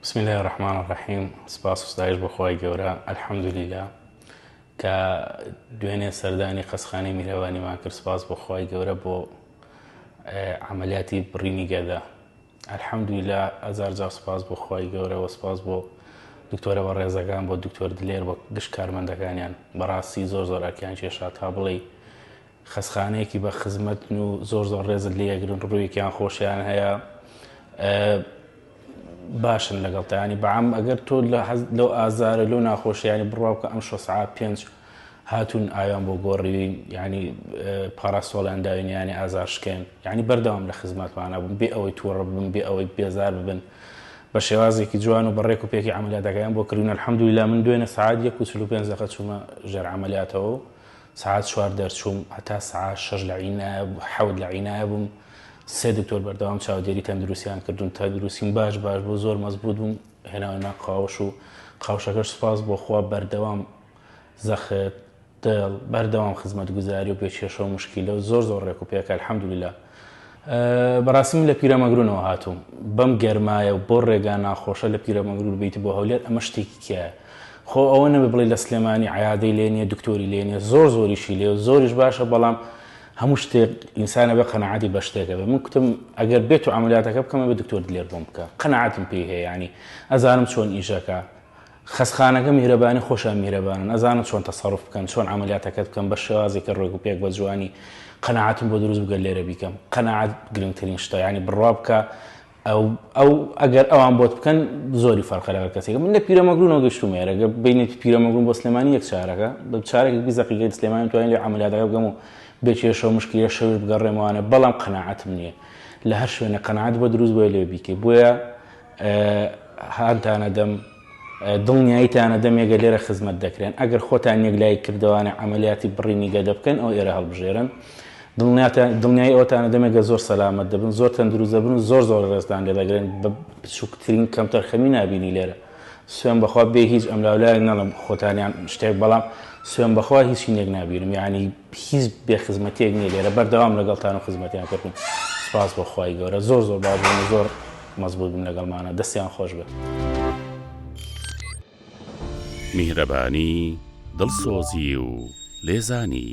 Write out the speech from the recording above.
بسم اللە الرحمن الرحیم سپاس و ستایش بۆ خوای گەورە الحمدللە کە دوێنێ سەردانی قەسخانی میرەوانیمان کرد سپاس بۆ خوای گەورە بۆ عملیاتی بڕینی گەدە الحمدللە ئەزار جا سپاس بۆ خوای گەورە و سپاس بۆ دکتۆرە بە ڕێزەکان بۆ دکتۆر دلێر بۆ گشت کارمەندەکانیان بەڕاستی زۆر زۆر ئەکیان کێشا تا بڵێ خەسخانەیەکی بە خزمەتن و زۆر زۆر ڕێزت لێگرن ڕوویەکیان خۆشیان هەیە باشن لەگەڵ تانی بەعام ئەگەر تۆ لەو ئازارە لۆ ناخۆشیانی بڕاوکە ئەم شۆ سعات پێنج هاتون ئایان بۆ گۆڕیوین ینی پاراسۆڵیان داوین ینی ئازار شکێن ینی بەردەوام لە خزمەتمانە بوون بێ ئەوەی تووڕ بن بێ ئەوەی بێزار ببن بە شێوازێکی جوان و بەڕێک و پێکی عملیاتەکەیان بۆ کردن الحمدلله من دوێنە سعات یەک و چلو پێنج دەقە چوومە ژێر عملیاتەوە سەعات چوار دەرچووم هەتا سەعا شەش لە عینایە حەوت لە عینایە بووم سێ دکتۆر بەردەوام چاودێری تەندروستیان کردوون تەندروستیم باش باش بۆ زۆر مەزبوط بووم هێناوەنا قاوش و قاوشەکەش سپاس بۆخوا بەردەوام زەخت دڵ بەردەوام خزمەت گوزاری و پێ کێشە و مشکیلە و زۆر زۆر ڕێک و پێکە الحمدللە بەڕاستی من لە پیرەمەگرونەوە هاتووم بەم گەرمایە و بۆ ڕێگا ناخۆشە لە پیرەمەگرور بیت بۆ هەولێر ئەمە شتێکی کیایە خۆ ئەوە نەبێ بڵێ لە سلێمانی عیادەی لێ نیە دکتۆری لێ نیە زۆر زۆریشی لێ زۆریش باشە بەڵام هەموو شتێک ئینسانە بە قەنەعاتی بە شتێکە بێ من کوتم ئەگەر بێت و عملیاتەکە بکەمە بە دکتۆر دلێر بۆم بکە قەنەعاتم پێی هەیە ینی ئەزانم چۆن ئیشەکە خەسخانەکە میهرەبانی خۆشیان میهرەبانن ئەزانن چۆن تەسەروف بکەن چۆن عەمەلیاتەکەت بکەم بە شێوازی کە ڕێک و پێک بە جوانی قەناعەتم بۆ دروست بگەر لێرە بیکەم قەناعەت گرنگترین شتە ینی بڕوا بکە ئەو ئەو ئەگەر ئەوان بۆت بکەن زۆری فەرقە لەگەر کەسێکە من لە پیرەمەگرونەوە گەشتومە ێرەگە بینێتی پیرەمەگرون بۆ سلێمانی یەک چارەکە بە چارێکی بیزەقیگەی سلێمانی توانین لێ عملیاتەکە بگەم و بێکێشەوە مشکیە شەوش بگەڕێمەوانە بەڵام قەناعەتم نییە لە هەر شوێنە قەناعەت بۆ دروست بۆیە لێ بیکەی بۆیە هانتانە دەم دڵنیاییتانە دەمێگە لێرە خزمەت دەکرێن ئەگەر خۆتان یەکلایی کردوانە عملیاتی بڕینی گەدە بکەن ئەو ئێرە هەڵبژێرن دڵنیای ئەوتانە دەمێگە زۆر سەلامەت دەبن زۆر تەندروست دەبن و زۆر زۆر ڕێزدان لێ دەگرن بە بچووکترین کەمتەرخەمی نبینی لێرە سوێن بەخوا بێ هیچ ئەم لاولایەک نەڵم خۆتانیان شتێک بەڵام سوێن بەخوا هیچی نێک نبینم یعنی هیچ بێ خزمەتێک نیە لێرە بەردەوام لەگەڵتان و خزمەتیان کردن سپاس بەخوای گەورە زۆر زۆر باش زۆر مەزبووت بن لەگەڵمانە دەستیان خۆش بێت. میهرەبانی، دڵسۆزی و لێزانی.